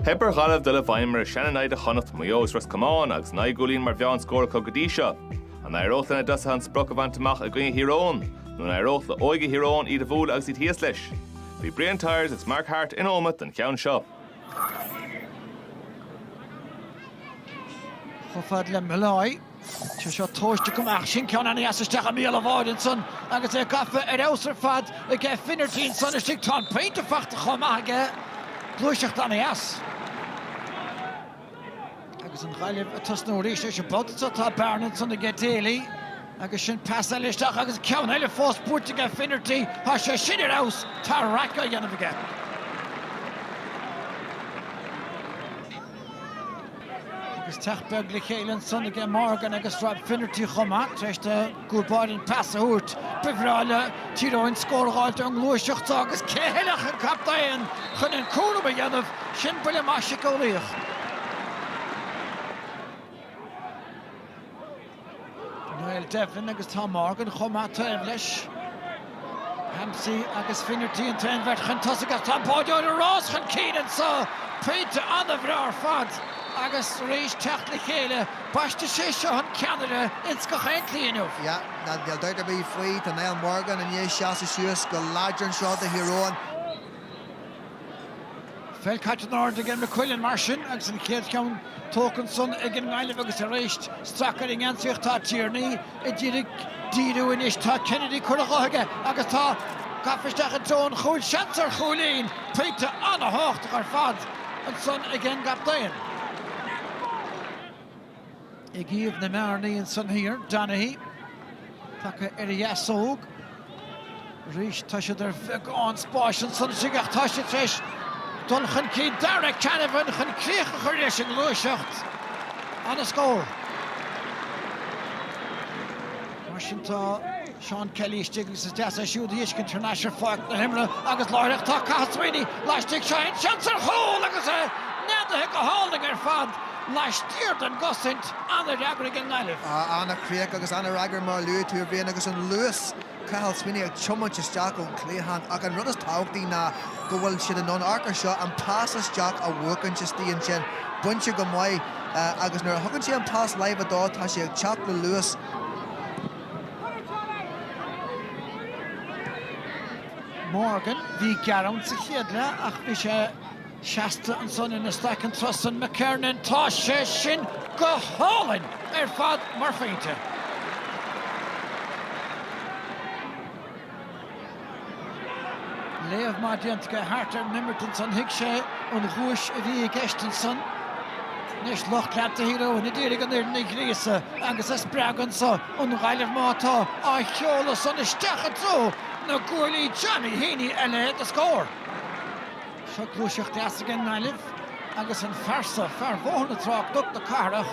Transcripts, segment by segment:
Theip ar Ghaillimh dul i bhfeidhm ar a sean-naimhde Chonnacht, Maigh Eo is Ros Comáin agus naoi gcúilín mar mheán scór acu go dtí seo. An éireodh lena dtosaithe an sprioc a bhaint amach i gcoinne Thír Eoghain? Nó an éireodh le óige Thír Eoghain iad a bhualadh agus iad thíos leis? Bhí Brian Tyers agus Mark Harte in Ómaigh don cheann seo. Chomh fada le Molloy. Sé seo tomhaiste go maith sin ceann ana dheas isteach i mbéal an bháide ansan agus é gafa ar fheabhas ar fad aige Finnerty ansan istigh tá an pointe fachta chomh maith aige. Gluaiseacht ana dheas. Agus an Ghaillimh ag tosnú arís an babhta san tá bearna ansan aige Daly agus sin pas eile isteach agus ceann eile fós buaite aige Finnerty tá sé sin ar fheabhas tá raic á dhéanamh aige. Agus teacht beag le chéile ansan ag Morgan agus Rob Finnerty chomh maith tar éis don gcúl báire an pas a thabhairt. Ba bhreá le Tír Eoghain scór a fháilt ón ngluaiseacht seo agus cé eile ach an captaen chun an cúram a dhéanamh? Sin buille maith siceolaíoch. Niall Devlin agus tá Morgan chomh maith taobh leis. Hampsey agus Finnerty an t-aon bheirt chun tosaigh ach tá an báideoir ag rás chun cinn anseo. Pointe an-bhreá ar fad agus tar éis teacht le chéile. Baisteadh sé seo an ceannaire ins gach aon tslí inniu. Yeah, níl dabht ar bith faoi. Tá Niall Morgan i ndiaidh seasamh suas go láidir anseo do Thír Eoghain. Pheil caite in airde ag McQuillan mar sin agus an chéad cheann tógtha ansan ag an nGaillimh agus tar éis strac ar an ngeansaí ach tá Tierney ag díriú, díriú anois, tá Kennedy curtha dhó aige agus tá gafa isteach i dtreo an chúil, seans ar chúilín! Pointe an-thábhachtach ar fad ansan ag an gcaptaen. ag iamh na mbearnaí ansan thiar. Donaghy tagtha ar a dheasóg. Arís tá siad ar bheagán spáis ansan istigh ach tá siad tar éis dul chun cinn. Darragh Canavan chun críoch a chur leis an ngluaiseacht. Ana scór. Mar sin tá Seán Kelly istigh agus is deas é siúd a fheiscint thar n-ais ar pháirc na himeartha agus láithreach tá Cathal Sweeney laistigh. Seo é an seans ar chúl agus é neadaithe go hálainn ar fad laistiar den gcosaint. An-fhreagra ag an nGaillimh. An-chríoch agus an-fhreagra mar a luaigh tú, a Bhriain, agus an luas, Cathal Sweeney ag tiomáint isteach ón chliathán ach an rud is tábhachtaí ná go bhfuil siad in ann amharc ar seo, an pas isteach a bhuachaint istigh ansin. Bainte go maith agus nuair a thugann sé an pas láimhe dó tá sé ag teacht le luas. Morgan, bhí gearán sa chéad leath ach bhí sé seasta ansan ina staic an tráth san. McKernan, tá sé sin go hálainn ar fad mar phointe. Léamh maith déanta aige thart ar an imirt ansan. Thuig sé an ghuais a bhí i gceist ansan. Anois lucht leanta Thír Eoghain ag iarraidh an fhoireann a ghríosadh agus a spreagadh ansan. An Ghaillimh má tá, á sheoladh san isteach i dtreo na gcuaillí Johnny Heaney a leithéid de scór. Seo gluaiseacht dheas aige an nGaillimh agus an fear so Bhóthar na Trá, Cnoc na Cathrach.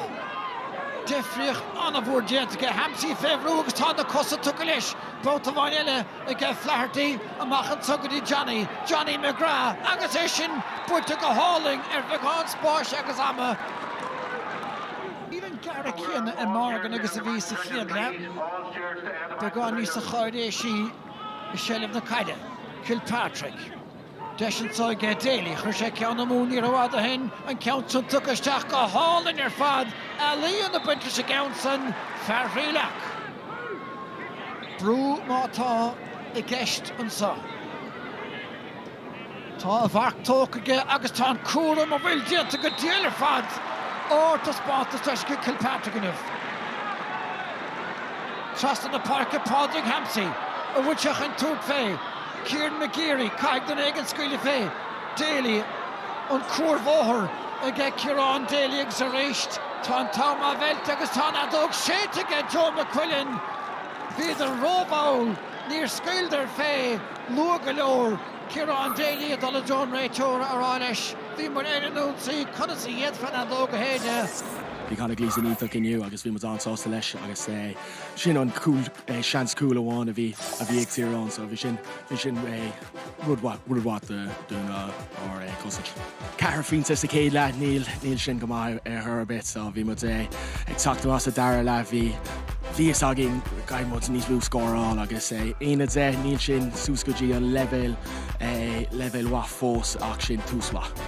Deifríocht an-mhór déanta aige Hampsey fé bhrú agus tá na cosa tugtha leis. Babhta amháin eile aige Flaherty amach anso go dtí Johnny, Johnny McGrath agus é sin buailte go hálainn ar bheagán spáis agus ama. Níl an gearradh céanna i Morgan agus a bhí sa chéad leath. Beagán níosa cháiréisí i seilbh na caide, Kilpatrick. Deis anso aige Daly. Chuir sé ceann amú ní rófhada ó shin, an ceann san tugtha isteach go hálainn ar fad. Ealaíon ag baint leis an gceann san, fear Thrí Leac. Brú má tá i gceist anso. Tá a mharc tógtha aige agus tá an cúram ab fhuil déanta go diail ar fad ardtaispeántas aige Kilpatrick inniu. Trasna na páirce Pádraig Hampsey an bhfuil sé chun tabhairt fé. Kieran McGeary, Caithfidh duine éigin scaoileadh fé Daly, an cuarbhóthar aige Ciarán Daly agus arís tá an t-am á mheilt agus tá an fheadóg séidte aige Joe McQuillan. Bhíodar ró-mhall, níor scaoileadar fé luath go leor Ciarán Daly ag dul i dtreo an réiteora a rá leis bhí muid ar an ionsaí, conas a fhéadfá an fheadóg a shéideadh? Bhí Conor Gleeson iontach inniu agus bhí muid an-sásta leis agus. Sin an cúl, seans cúil amháin a bhí a bhí ag Tyrone so bhí sin bhí sin rud mhaith rud mhaith do do na ár cosaint. Ceithre phointe sa chéad leath níl níl sin go maith ar ar chor ar bith so bhí muid ag teacht amach sa dara leath bhí bhí fhios againn go gcaithfidh muid níos mó a scóráil agus é aon a deich níl sin suas go dtí an leibhéal leibhéal mhaith fós ach sin tús mhaith.